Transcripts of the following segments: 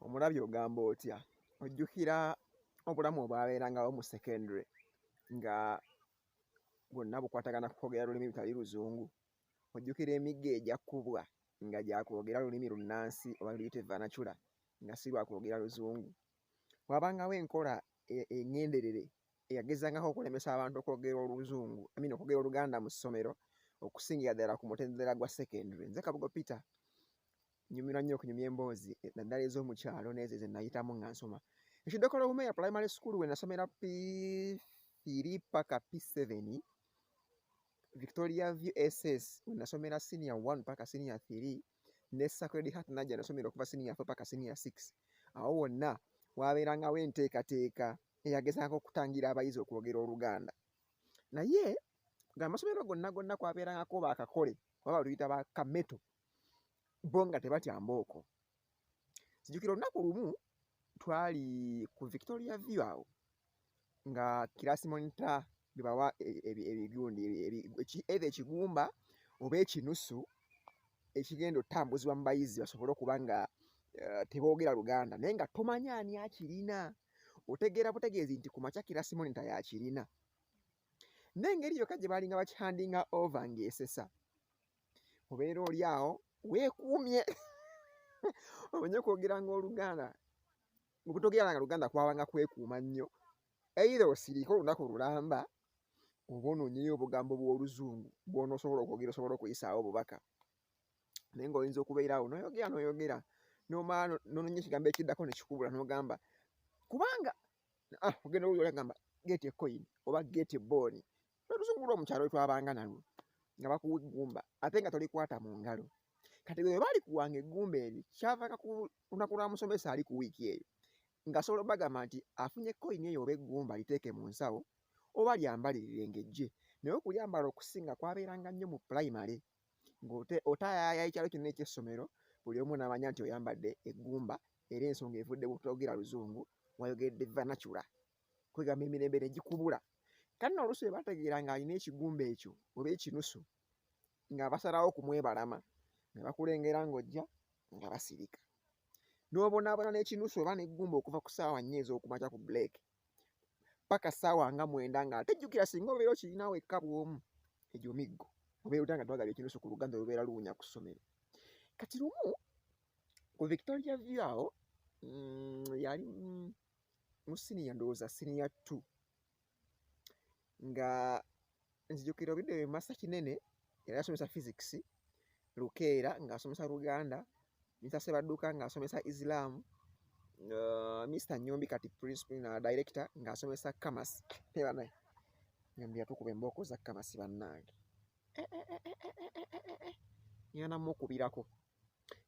omulabye ogamba otya ojjukira obulamu obwabeerangawo mu secondary nga bwonna bukwatagana kukwogera lulimi lutali luzungu ojjukira emigga egyakkubwa nga gyakwogera lulimi lunnansi oba luyite vanacula nga si lwakwogera luzungu wabangawo enkola e-, eŋŋenderere eyagezangako okulemesa abantu okwogera oluzungu amin okwogera oluganda mu ssomero okusingira ddala ku mutendera gwa secondary nze kabugo peter nyumirwa nnyo okunyumya emboozi eh, naddala ez'omu kyalo n'ezo ze nayitamu nga nsoma ekiddokolo wumeya primary school we nasomera piri paka p7 victoria view ss we nasomera senior 1 paka senior 3 ne sacred heart najja nasomera okuva senior 4 paka senior 6 awo wonna wabeerangawo enteekateeka eyagezaako okutangira abayizi okwogera oluganda naye ng'amasomero gonna gonna kwabeerangako bakakole oba baluyita bakameto bo nga tebatya mbooko kijukira olunaku lumu twali ku victoria view awo nga kirasi monita bebawa e, e, e, ebigundi eitha ekigumba oba ekinusu ekigenda otambuzibwa mu bayizi basobole okuba nga eh, teboogera luganda naye nga tomanya ani akirina otegeera butegeezi nti ku makya kirasi monita yakirina n'engeri yokka gye baalinga bakihandinga ova ng'esesa obeera oli awo weekuumye omenye okwogeranga oluganda okutogeranga luganda kwabanga kwekuuma nnyo eitha osiriika olunaku lulamba oba onoonyeyo obugambo bw'oluzungu bwonaosobola okwogera osobola okuyisaawo obubaka naye nga oyinza okubeera awo noyogera noyogera nomala nononya ekigambo ekiddako nekikubula nogamba kubanga ah, ogenda owulira olagamba gate coin oba gate boni lwelusuku lwo mukyalo wetwabanga nalwo nga bakuwa eggumba ate nga tolikwata mu ngalo kati bwe bali kuwanga eggumba eryo kyavanga ku lunaku lwa musomesa ali ku wiiki eyo ngasobola obagamba nti afunye koyini eyo oba eggumba liteeke mu nsawo oba lyambalirire ngejje naye okulyambala okusinga kwabeeranga nnyo mu pulayimale ng'otayaya ekyalo kyonna ekyessomero buli omu namanya nti oyambadde eggumba era ensonga evudde butogera luzungu wayogedde vanacula kwegamba emirembe ne gikubula kati no oluusi bebategeera nga alina ekigumba ekyo oba ekinusu nga basalawo okumwebalama ne bakulengera ng'ojja nga basirika n'obonaabona n'ekinusu oba n'eggumba okuva ku ssaawa nnya ez'okumakya ku buleeke paka ssaawa nga mwenda nga ate jjukira singa obeera okirina wekka bw'omu egyo miggo obeera otya nga twagala ekinusu ku luganda olubeera luwunya ku ssomero kati lumu ku victoria view awo mm, yali mm, mu siniya ndowooza siniya t nga nzijukira obidde wemasa kinene era asomesa physics lukeera ng'asomesa luganda misase badduka ng'asomesa islam uh, mr nyombi kati principal na director ng'asomesa kamas nebanaye nyombi yatukuba embooko za kamasi bannange eh, eh, eh, yana mukubirako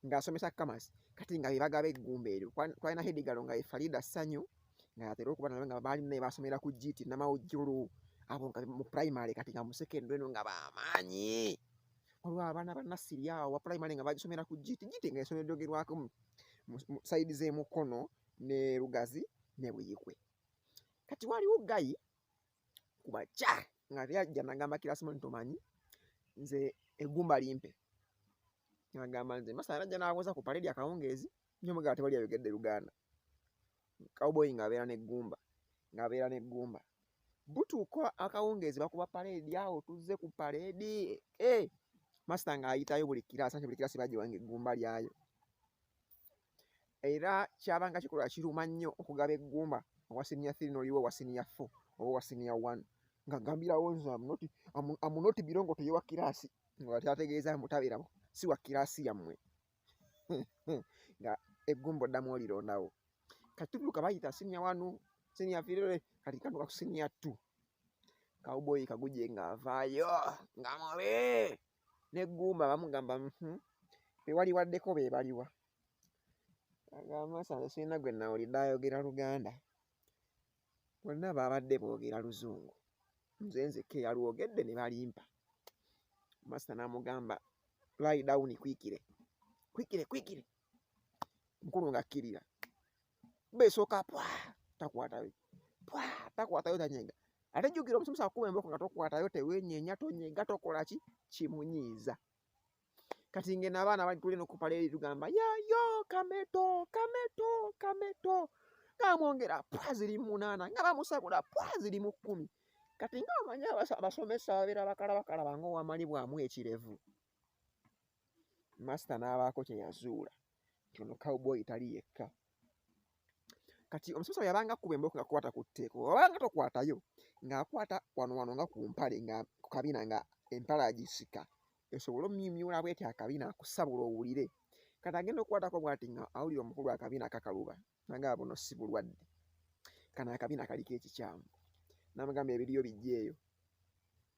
ng'asomesa Kamasi kati nga be bagaba eggumba eryo twalina hedigalo nga ye Farida Sanyu nga yatera okuba nawe nga baali naye basomera ku GT Namawujjulu abo nga mu primary kati nga mu secondary no nga bamaanyi waliwo abaana banassiri awo wa primary nga bagisomera ku GT GT nga esomero lyogerwako mu sayidi z'emukono ne Lugazi ne Buyikwe kati waliwo gayi kubakya nga teyajja nagamba kirasimoni tomanyi nze egumba limpe nagamba nze masana najja nawoza ku paledi akawungeezi nyo mugala tewali ayogedde luganda cowboy ng'abeera n'eggumba ng'abeera n'eggumba butuuka akawungeezi bakuba paleedi awo tuzze ku paleedi eh, masita ng'ayitayo buli kiraasa nti buli kiraasi bagiwanga eggumba lyayo era kyabanga kikolwa kiruma nnyo okugaba eggumba owa siniya three noliwo owa siniya four oba owa siniya one nga gambirawo nze amunoti birongo toye wa kiraasi nga kyategeeza mutabeerawo si wa kiraasi yammwe nga eggumba oddamu olirondawo kati tuduka bayita siniya wanu siniya firere kati kanduka ku siniya two kawuboyi kaguje ng'avaayo nga mubi ne gumba bamugamba mhm, bewali waddeko bebaliwa agamba sanze sirina gwe nawulidde ayogera luganda bonna baabadde boogera luzungu nze nzekka eyalwogedde ne balimpa masita n'amugamba laidawuni kwikire kwikire kwikire mukulu ng'akkirira besoka pwa takwatayo pwa takwatayo tanyenga ate jjukira omusomesa akuba emboko nga tokwatayo tewenyenya tonyenga tokola ki kimunyiiza kati ngeno abaana bali tulina okupala eri tugamba yayo kameto kameto kameto ngamwongera pwa ziri munaana nga bamusabula pwa ziri mu kkumi kati nga omanyi abasomesa babeera bakalabakalaba nga owamalibwamu ekirevu masita n'abaako kye yazuula nti ono cowboy tali yekka kati omusomesa bwe yabanga kuba emboko nga kwata ku tteeko wabanga tokwatayo ng'akwata wano wano nga ku mpale nga ku kabina nga empale agisika esobole omumyumyula bwetyo akabina akusabula owulire kati agenda okukwatako bwati nga awulira omukulu akabina akakaluba nanga abuno si bulwadde kano akabina kaliko ekikyamu namugamba ebiriyo bijja eyo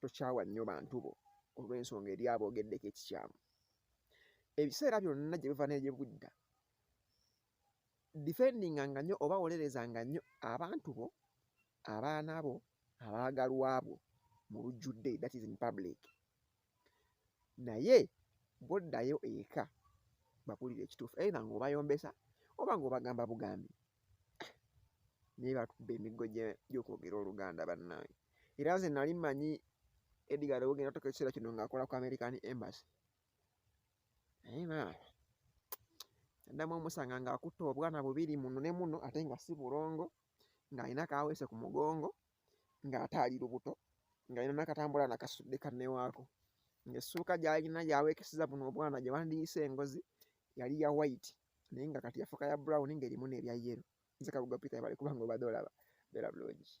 tokyawa nnyo bantu bo olw'ensonga eri aboogeddeko ekikyamu ebiseera byonna gye biva negye budda difendinga nga nnyo oba wolereza nga nnyo abantu bo abaana bo abaagalwa bwo mu lujjudde that is in public naye bwoddayo eka bakulira ekituufu eitha ngaobayombesa oba ngaobagamba bugambi naye batubba emiggo gyokwogera oluganda bannange era nze nali manyi edgar ogenda otoka ekiseera kino ngaakola ku american embassy naye maama addamu omusanga ngaakutte obwana bubiri muno ne muno ate nga si bulongo ng'alina kaweese ku mugongo ng'ate ali lubuto ng'alina nakatambula nakasudde kannewaako ng'essuuka gy'alina gyaweekeseza buno obwana gye bandiyise engozi yali ya waiti naye nga kati yafuka ya brown ng'erimu n'ebya yero nze kabuga peter yabale kubanga obadde olaba bera bulungi